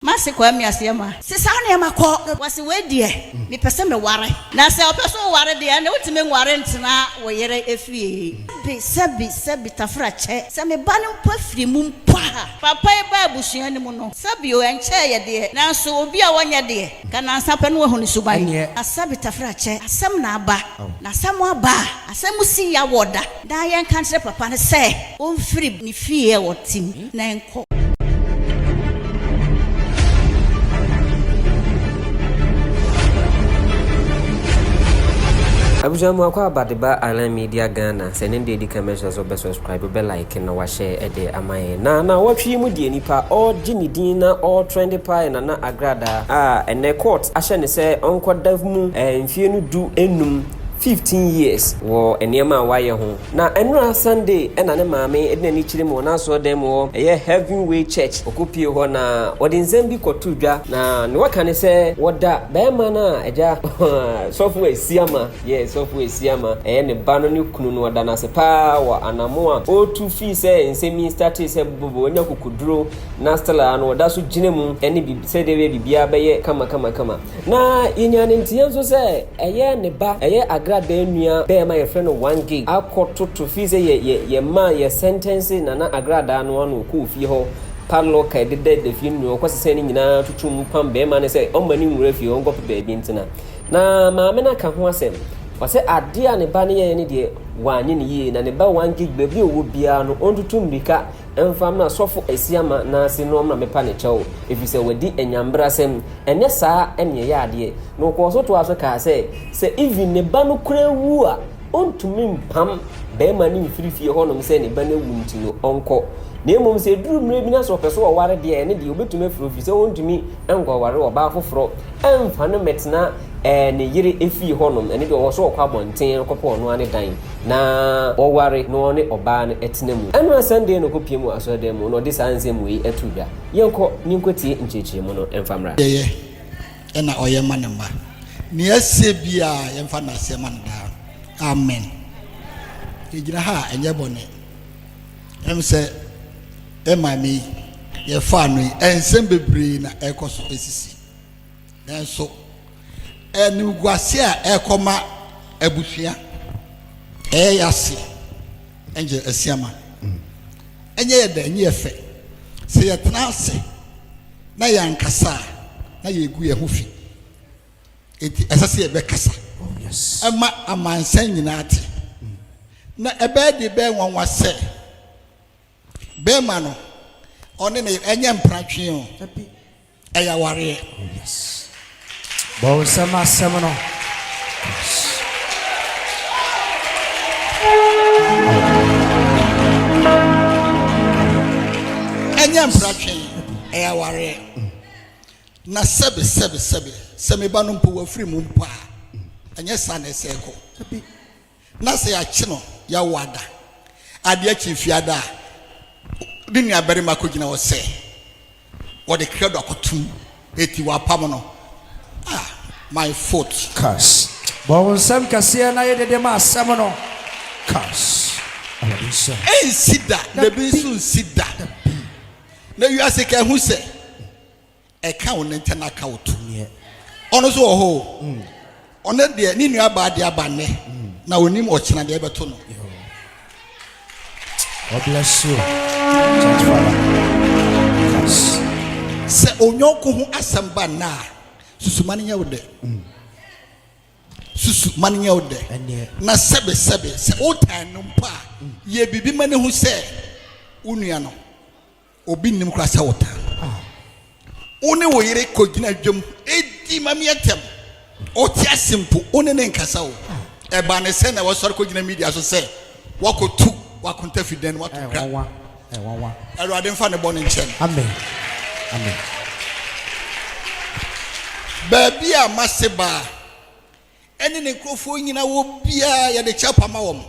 Mase kɔ ami aseɛ ma. Se saa nneɛma kɔ no wase wei deɛ me pɛ se me ware na sɛ ɔpɛ se oware deɛ ɛne wotumi nware ntena wo yere efie. Sɛbi sɛbi sɛbi tafra kyɛ sɛ me ba no mpo afiri mu mpo a. Papa yi baa abusua no mu no sɛbi o ɛnkyɛɛ yɛ deɛ nanso obi a wɔnyɛ deɛ ka nansa pɛ no wahu ne suban. Ɛneɛ. Na sɛbi tafra kyɛ asɛm na aba na sɛ mo aba a asɛm si ya wɔ da. Daa yɛnka nkyerɛ papa no sɛ ɔmfiri ne fie a ɔte mu na nkɔ. Abusua mu akwaaba de ba Island Media Ghana sɛ ne deɛ di kan mɛsrɛ sɛ ɔbɛ subscribe ɔbɛ like na wahyɛ ɛde ama yɛn na na ɔtwe yi mu deɛ nipa ɔregye ne din na ɔretrɛnde paa yɛ Nana Agradaa a ɛnɛ court ahyɛ ne sɛ ɔnkɔ da mu ɛɛ mfie no du nnum 15 years wɔ nneɛma a wayɛ ho. Na ɛnora Sunday na ne maame de n'ani kyerɛ mu wɔ n'asɔɔdan mu hɔ, ɛyɛ Heaven Way Church. Ɔkɔ pie hɔ na ɔde nsɛm bi kɔ to dwa na ne waka ne sɛ wɔda bɛɛma no a agya sɔfo Asiama, yes sɔfo Asiama, ɛyɛ ne ba no ne kunu no ɔda no ase paa wɔ anamo a ɔretu fii sɛ nsɛm yi startee sɛ bɔbɔbɔ ɔnya kukuduro na still a no ɔda so gyina mu ɛne sɛdeɛ bɛyɛ biribiara bɛyɛ kama kama kama. Na yɛnyaa ne nteɛ nso sɛ ɛyɛ ne ba, ɛyɛ Agradaa nua bɛɛma yɛfrɛ no One Gig akɔ toto fii sɛ yɛ yɛ yɛmaa yɛ sɛntɛnsee Nana Agradaa no ano ɔkɔɔ fie hɔ padlock a ɛdeda da fie no nua ɔkɔ sesɛɛ ne nyinaa toto mu pam bɛɛma no sɛ ɔmma no nwura fie hɔ ɔnkɔ pɛ baabi ntena na maame no aka ho asɛm ɔsɛ adeɛ a ne ba no yɛɛ no deɛ wanyɛ no yie na ne ba One Gig baabi a ɔwɔ biara no ɔntutu mmirika Ɛmfa mmra sɔfo Asiama nan ase na ɔmmra mmɛpa ne kyɛw, ɛfiri sɛ wadi anyambrasɛm. Ɛnyɛ saa na ɛyɛ adeɛ. Na ɔkɔɔ so toaa so kaa sɛ, sɛ even ne ba no koraa wu a, ɔntumi mpam barima no mfiri fie hɔnom sɛ ne ba no awu nti no, ɔnkɔ. Na mmom sɛ ɛduru mmerɛ bi na sɛ ɔpɛ sɛ ɔware deɛ a, ɛno deɛ, ɔbɛtumi afiri hɔ, ɛfiri sɛ ɔntumi ankɔware ɔbaa foforɔ amfa no mmɛtena ɛɛ ne yere efie hɔnom, ɛno deɛ ɔwɔ sɛ ɔkɔ abɔnten kɔpɛ ɔno ara ne dan na ɔware na ɔne ɔbaa no tena mu. Ɛno a Sunday no kɔpiem wɔ asɔredan mu na ɔde saa nsɛm wei too dwa. Yɛnkɔ na yɛnkɔtie nkyerɛkyerɛmu no mfa mmra. Yɛyɛ na ɔyɛ ma ne mma. Nea asie biara yɛmfa no aseɛ ma no daa. Amen. Yɛgyina ha a ɛnyɛ bɔne. Ɛm sɛ yɛ maame yi yɛfaa no yi, nsɛm bebree na ɛrekɔ so sisi. Nanso animguase a ɛrekɔma abusua ɛyɛ yase ɛnkyɛ asiama. Ɛnyɛ yɛ dɛ, ɛnyɛ yɛ fɛ. Sɛ yɛtena ase na yɛankasa a, na yɛgu yɛn ho fi. Enti ɛsɛ sɛ yɛbɛkasa oh, ma amansan nyinaa te. Mm. Na ɛbɛyɛ de bɛyɛ nwanwa sɛ bɛrima no ɔne ne ɛnyɛ mpratwe o, ɛyɛ awareɛ. Oh, Bɔnsɛm asɛm no. Ɛnyɛ mpratwe ɛyɛ awareɛ. Na sɛbe, sɛbe, sɛbe, sɛ me ba no mpo wafiri mu mpo a, ɛnyɛ saa na ɛsɛ kɔ. Na sɛ yɛakye no, yɛawo ada, adeɛ akyi mfeɛ ada a, ne nuabarima akɔgyina hɔ sɛ wɔde krɛdo akɔto mu, eti wɔapam no. Ah, my foot. Kas. Bɔ wo nsam kɛseɛ na yɛ dede ma asɛm no. Kas. Awurade nsa. Ɛnsi da, na ebi nso nsi da. Na wiase ka ehu sɛ, ɛka wo ne nkyɛ na aka wo to. Ɔno nso wɔ hɔ o. Ɔno deɛ ne nua baa de aba nnɛ na onim ɔkyena deɛ ɛbɛto no. God bless you, church father. Yes. Sɛ onyɔnko ho asɛm ba nna a, susu ma no nyɛ wo dɛ. Susu ma no nyɛ wo dɛ. Na sɛbesɛbe sɛ wotan no mpo a, yɛ biribi ma no hu sɛ wo nua no. Obi nnim koraa sɛ wotaa no. Wo ne wo yere kɔgyina dwam di ma me atɛm. Wote ase mpo, wo ne no nkasa o. Ɛba ne sɛ na wasɔre kɔgyina media so sɛ wakɔtu wakonta fi dan mu ato kra. Awurade mfa ne bɔne nkyɛ no. Amen. Amen. Baabi a mase baa ɛne ne nkurɔfoɔ nyina wɔ biara yɛde kyapa ma wɔn.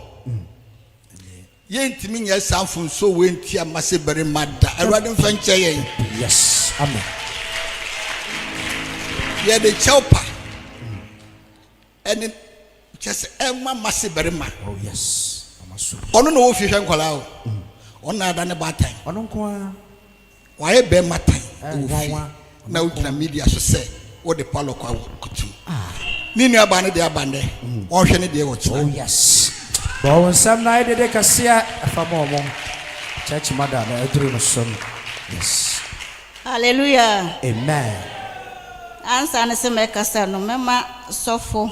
Yɛntumi nyɛ saa mfomsoɔ wei ntia mmase barima da. Awurade mfa nkyɛ yɛn. Yes. Amen. Yɛde kyɛw pa. Ɛne kyɛ sɛ ɛma mmase barima. Oh yes. Ɔno na ɔwɔ fie hwɛ nkwadaa o. Ɔno na ada ne baatan. Ɔno nko ara. Wayɛ bɛɛma tan wɔ fie na wogyina media so sɛ wode Paulo kɔ awo kutu. Ne nua baa no deɛ aba nnɛ, wɔnhwɛ ne deɛ wɔ kyena. Oh yes. Bɔ wo nsam na ayɛ dede kɛseɛ ɛfa ma ɔmo. Church mother no aduru no so no. Yes. Hallelujah. Amen. Ansa ne sɛ mɛkasa no mɛma sɔfo.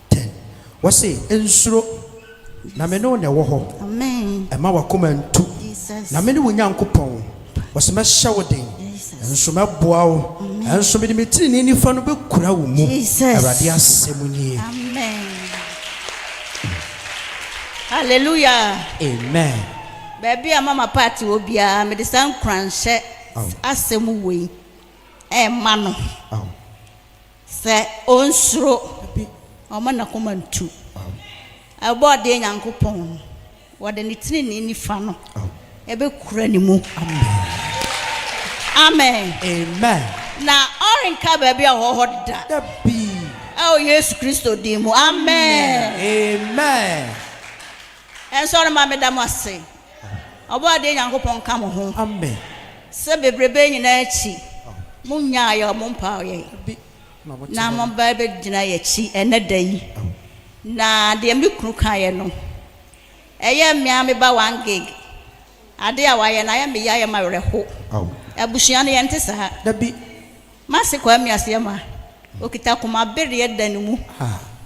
Ten, wɔse, Nsuro, na me ne wo na ɛwɔ hɔ. Mma w'akoma ntu, na mene wo Nyankopɔn. Wɔse, Mɛhyɛ wo den, nso mɛboa wo, nso mede me tenenee nifa no bɛkura wo mu. Awurade asɛm nie. Hallelujah. Amen. Baabi a Mama Party wɔ biara, mede saa nkuranhyɛ asɛm wei ɛma no. Sɛ ɔnsuro, ɔmma n'akoma ntu. Ɛbɔ ɔdeɛ Nyankopɔn no, wɔde ne tenenee nifa no bɛkura ne mu. Amen. Amen. Na ɔrenka baabi a ɔwɔ hɔ da. Dabi. Ɛwɔ Yesu Kristo din mu. Amen. Amen. Ɛnso ɔrema meda mo ase. Ɔbɔadeɛ Nyankopɔn nka mo ho sɛ bebrebe yi nyinaa akyi monnyaa yɛn, mompaaw yɛn, na moba bɛgyina yɛn akyi ɛnnɛ da yi. Na deɛ me kunu kaeɛ no, ɛyɛ me ara me ba one gig, adeɛ a wayɛ no ayɛ me ya, ayɛ me awerɛho. Abusua no yɛnte saa. Mase Kwame Asiamah, okita koma bereɛ da ne mu.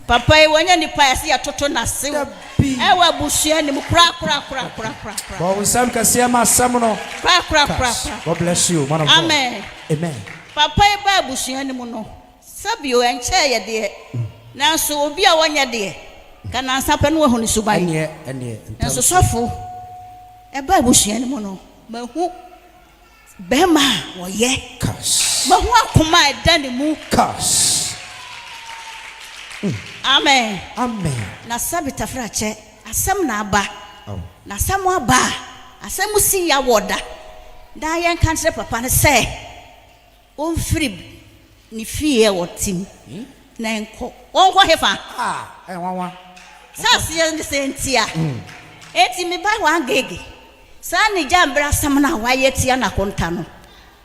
Papa yi wanyɛ nipa yɛse yɛtoto nasew ɛwɔ abusua no mu kora kora kora kora kora kora. Bɔ wo nsɛm kɛseɛ ma asɛm no kora kora kora kora God bless you man of God. Amen. Amen. Papa yi baa abusua no mu no sɛbio ɛnkyɛɛ yɛdeɛ nanso obi a wɔnyɛ deɛ ka nansa pɛ no wahu ne suban. Ɛneɛ ɛneɛ ntɛm so. Nanso sɔfo ɛbaa abusua no mu no mahu. Bɛɛma a ɔyɛ. Kas. Mahu akoma a ɛda ne mu. Kas. Amen. Amen. Na sɛbe tafra kyɛ, asɛm na aba. Aw. Na asɛm aba a, asɛm si ya wɔ da. Daa yɛnka nkyerɛ papa no sɛ, Ɔmfiri ne fie a ɔte mu na nkɔ. Ɔnkɔ hefa? A, ɛyɛ nwanwa. Sɛ aseɛ ne sɛ ntia. Enti me ba w'agege. Saa ne gya mbrasɛm no a w'ayɛ tia n'akonta no.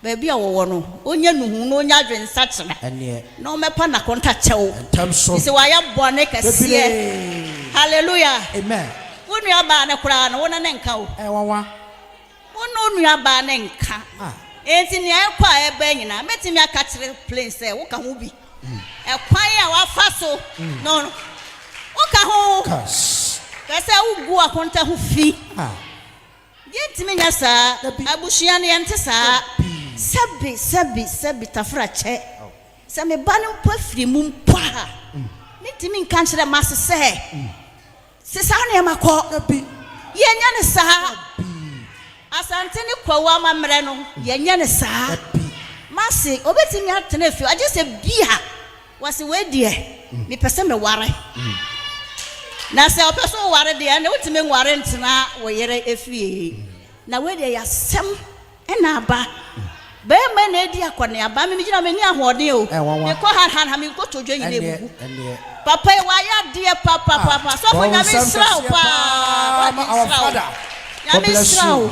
Baabi a ɔwɔ no, ɔnya nuhu na ɔnya adwensakyera. Ɛneɛ. Na ɔmɛpa n'akonta kyɛw. Ntɛm so. Efisɛ w'ayɛ bɔne kɛseɛ. Bebree. Hallelujah. Amen. Wo nuabaa no koraa no, wo ne no nka o. Ɛyɛ nwanwa. Wo ne wo nuabaa no nka. Enti nea ɛkɔ a ɛba nyinaa, mɛtumi aka akyerɛ Plane sɛ woka ho bi. Ɛkwan a wafa so no, woka ho. Hwɛ sɛ wugu akonta ho fi. Yentumi nyɛ saa. Abusua no, yɛnte saa. Sɛbe, sɛbe, sɛbe, Tafera kyɛ. Sɛ me ba no mpo afiri mu mpo a, mentumi nka nkyerɛ m'ase sɛ. Se saa nneɛma kɔ. Da bi. Yɛnyɛ no saa. Da bi. Asante ne Kwawu amammerɛ no, yɛnyɛ no saa. Da bi. Mase, obetumi atena fie hɔ, gye sɛ bi a wɔse wei deɛ, mepɛ sɛ meware. Na sɛ ɔpɛ sɛ ɔware deɛ, ɛnna wotumi nware ntena wo yere fie. Na wei deɛ yɛ asɛm. Ɛna aba. Bɛɛma na adi akɔneaba. Me megyina menni ahoɔden o. Mekɔ ha ha ha me nkotodwe nyina abubu. Papa yi wayɛ adeɛ papapapa. Sɔfo Nyame nsra wo paa. Nyame nsra wo. Nyame nsra wo.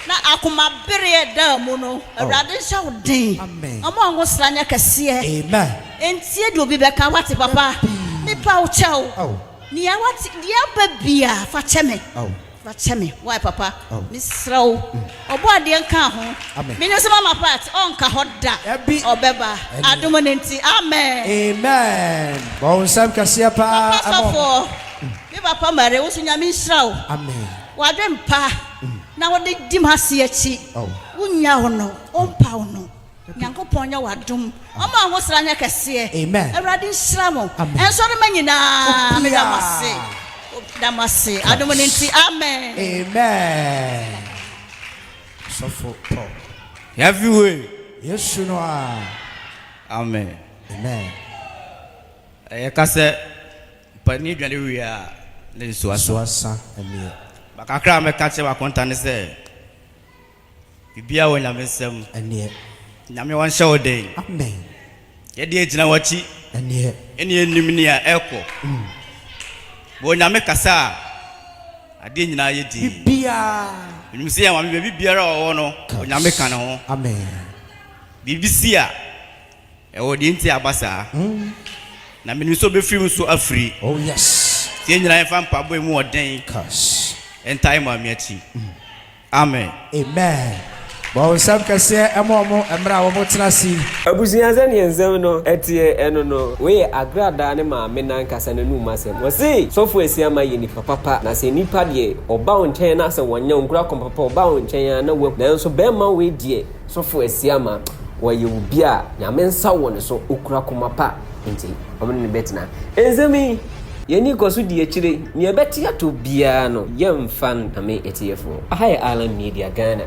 Na akoma bereɛ ɛdaa mu no Awurade nhyɛ wo den. Ɔma wo nwosra nyɛ kɛseɛ. Ɛntie deɛ obi bɛka wate papa. Mepa wo kyɛw. Nea wate deɛ aba biaa fa kyɛ me. Fa kyɛ me wai papa me srɛ wo ɔbɔ adeɛ nkaa ho me ne so mama part ɔnka hɔ da ɔbɛba adom no nti amen. Amen bɔ wo nsam kɛseɛ paa Papa ma ɔmo. sɔfoɔ me papa mare wo so nyame nhyira wo Amen. wadwen pa na wode di m'ase akyi Oh. wo nya wo no wo mpa wo no Nyankopɔn nyɛ wo adom. Ɔma wo ho sra nyɛ kɛseɛ. Amen. Awurade nhyira mo. Amen. Nsɔrema nyinaa Obiara. meda mo ase. Meda mo ase. Adom no nti. Amen. Amen. Sɔfo tɔ. Yɛafi we. Yesu no a. Amen. Amen. Yɛka sɛ mpanin dwane wie a ne nsuo asa. Nsuo asa ɛneɛ. Bakakra a mɛka kyerɛ w'akonta ne sɛ. Biribiara wɔ Nyame nsam. Ɛneɛ. Nyame ɔnhyɛ wo den. Amen. Yɛdeɛ gyina wakyi. Ɛneɛ. Ɛne yɛnim nea ɛkɔ. Mm. Bɔ Onyame kasa a. Adeɛ nyinaa yɛ dinn. Biribiara. Menim sɛ yɛn Maame baabi biara a ɔwɔ no Onyame ka ne ho. Amen. Biribi si a. Ɛwɔ deɛ nti a aba saa. Mm. Na menim sɛ ɔbɛfiri mu nso afiri. Oh yes. Nti yɛn nyinaa yɛmfa mpaabɔ a ɛmu ɔden. Kas. Ɛntae Maame akyi. Mm. Amen. Amen Bɔnsam kɛseɛ ma ɔmo mmerɛ a ɔmo tena ase yi. Abusua sɛdeɛ nsɛm no teɛ ɛno no wei yɛ Agradaa ne maame no ankasa nanum asɛm ɔse sɔfo Asiamah yɛ nipa papa na sɛ nipa deɛ ɔba wo nkyɛn na sɛ wɔnyɛ wo nkura kɔm papa ɔba wo nkyɛn aa na wahu nanso bɛɛma wei deɛ sɔfo Asiamah ɔyɛ obi a Nyame nsa wɔ ne so ɔkura kɔma pa nti ɔmo ne no bɛtena nsɛm yi Yɛn ani kɔ so di akyire, nea ɛbɛte ato biara no yɛmfa nkame atiefoɔ. Aha yɛ Island Media Ghana.